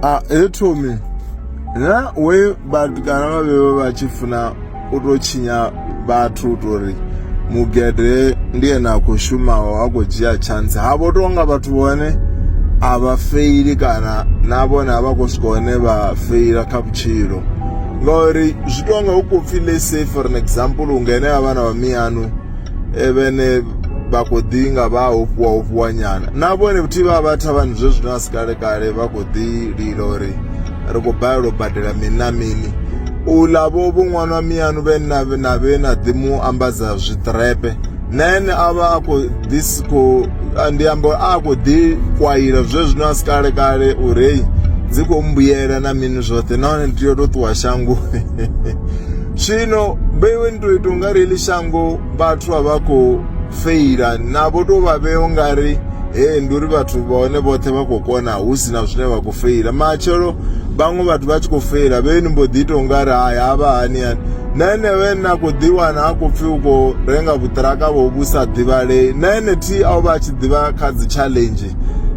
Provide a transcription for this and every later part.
a he thomi na we vhatukana vha vhevha vha tshi funa u tou tshinya vhathu u tou ri mugede ndi ene a khou shumaho a khou dzhia tshantsi ha vho tou nga vhathu vhone a vha feili kana na vhone a vha khou swika hone vha feila kha vhutshilo ngauri zwi tou nga hu khou pfhi le say for an example hu ngene a vhana vha miyanu eh, vhene vha khou ḓi nga vha ofhiwa ofhiwa nyana na vhone vhuthi vha vha thavhani zwe zwino a si kale kale vha khou ḓi lila uri ri khou balelwa u badela mini na mini u ḽa vho vho ṅwana wa miyanu vhe na na vhe na ḓi mu ambadza zwiṱrepe na ene a vha a khou ḓi si khou a- ndi amba uri a khou ḓi kwaila zwe zwino a si kale kale uri heyi dzi khou mbuyela na mini zwoṱhe nahone ndi tea u tou ṱuwa shangoni zwino vheiwe ni to ita ungari heḽi shango vhathu a vha khou feila navho to vha vhea ungari he ndi uri vhathu vha hone vhoṱhe vha khou kona hu si na zwine vha khou feila matshelo vhaṅwe vhathu vha tshi khou feila vhe ni mbo ḓi ita ungari hai havha hani hani na enewe na khou ḓiwana a khou pfhi u khou renga vhuṱiraka vho vhu sa ḓivhalei na ene thi a u vha a tshi ḓivha kha dzi challenge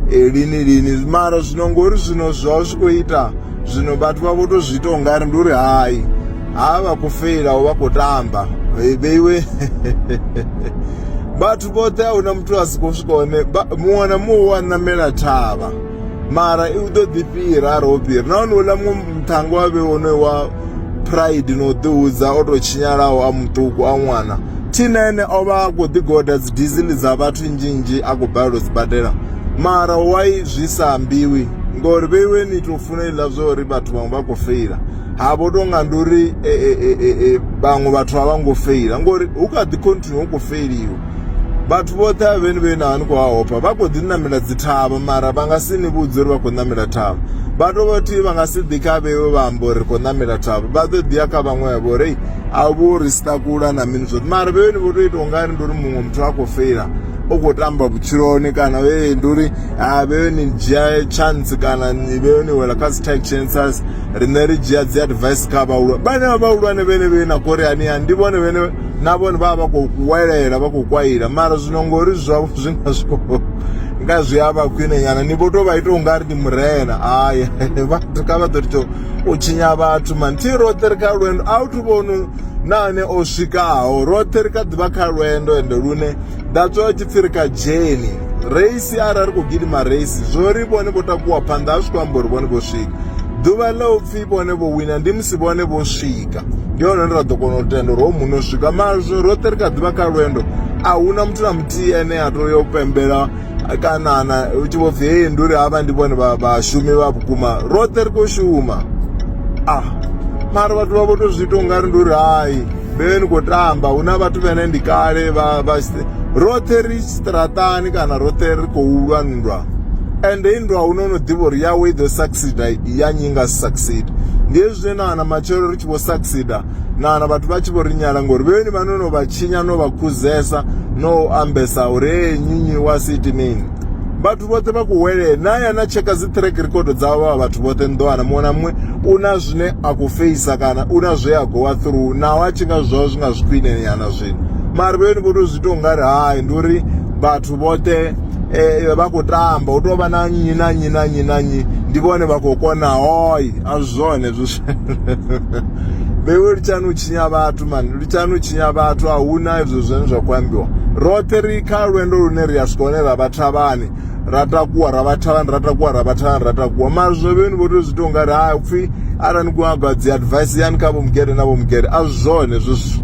lini lini mara zwino ngori zwino zwa zwi khou ita zwino vhathu vha vho to zwi ita ungari ndi uri hai ha vha khou feila vha khou tamba vheiwe vhathu vhoṱhe a huna muthu a si khou swika hone muṅwe na muṅwe wa ṋamela thavha mara i ḓo ḓi fhira a ro fhira nahone uḽa muṅwe muṱhango wa vhe wonoyo wa pride no ḓihudza o to tshinyalaho a muṱuku a ṅwana thina ene o vha a khou ḓigoda dzi dizili dza vhathu nnzhi nnzhi a khou balelwa dzi badela mara why zwi sa ambiwi ngori vheiwe ni to funa iḽa zwa uri vhathu vhaṅwe vha khou feila ha vho tonga ndi uri e, e, e, vhaṅwe vhathu a vha ngo feila ngori hu kha ḓi continue hu khou feiliwa vhathu vhoṱhe a vheni vhe na ni khou hahopha vha khou ḓi namela dzi thavha mara vha nga si ni vhudze uri vha khou namela thavha vha to vhathihi vha nga si ḓi kha vheiwe vha amba uri khou namela thavha vha ḓo ḓiya kha vhaṅwe vha vhori a vho ri sitakula na mini zwoṱhe mara vheiwe ni vho to ita ungari ndi uri muṅwe muthu a khou feila u khou tamba vhutshiloni kana vhe ndi uri a vhe ni dzhia chance kana ni vhe ni wela kha dzi tight chances riṋe ri dzhia dzi advice kha vhahulwane vhane vha vhahulwane vhene vhe na kori ani ani ndi vhone vhene na vhone vha vha khou kuwelela vha khou kwaila mara zwino ngori zwavho zwi nga zwi khou nga zwi a vha khwine nyana ni vho to vha ita ungari ndi murena hayi vhathu kha vha ḓo ri to u tshinya vhathu mani thi roṱhe ri kha lwendo a u thu vhonu na ane o swikaho roṱhe ri kha ḓivha kha lwendo ende lune that's why tshipfi ri kha dzheni reisi arali ri khou gidima reisi zwo ri vhone vho takuwa phanḓa a zwi khou amba uri vhone vho swika ḓuvha ḽa u pfhi vhone vho wina ndi musi vhone vho swika ndi hone ra ḓo kona u tenda uri ho muno swika mara zwino roṱhe ri kha ḓivha kha lwendo a huna muthu na muthihi ane a tou ya u pembela kana na u tshi vho pfhi hei ndi uri havha ndi vhone vha- vhashumi vha vhukuma roṱhe ri khou shuma ah mara vhathu vha vho to zwi ita ungari ndi uri hai vhe ni khou tamba hu na vhathu vhene ndi kale vha vha si- roṱhe ri straṱani kana roṱhe ri khou lwa nndwa ende i nndwa huno no ḓivha uri yawe i ḓo succida ya nyi nga succida ndi hezwi zwine na wana matshelo ri tshi vho succida na na vhathu vha tshi vho ri nyala ngori vheni vha no no vha tshinya no vha khuzesa no ambesa uri hey nyinyi wa siti mini vhathu vhoṱhe vha kuwele na ya na tsheka dzi track record dza vha vhathu vhoṱhe nḓowana muṅwe na muṅwe u na zwine a ku feisa kana u na zwe a gowa through naho a tshi nga zwo zwi nga zwi khwine yana zwino mara vheni vho to zwi to nga ri hai ndi uri vhathu vhoṱhe eh, vha khou tamba u tou vha na nnyi na nnyi na nnyi na nnyi ndi vhone vha khou kona hoi a zwone zwi veiwe litshani u tshinya vhathu mani litshani u tshinya vhathu a hu na izwo zwine zwa khou ambiwa roṱhe ri kha lwendo lune ri a swika hone ra vhathavhani ra takuwa ra vhathavhani ra takuwa ra vhathavhani ra takuwa mara zwo vheni vho tou zwi tou nga ri ha upfhi arali ni khou nyaga dzi advice yani kha vho mugede na vho mugede a zwi zwone zwezwo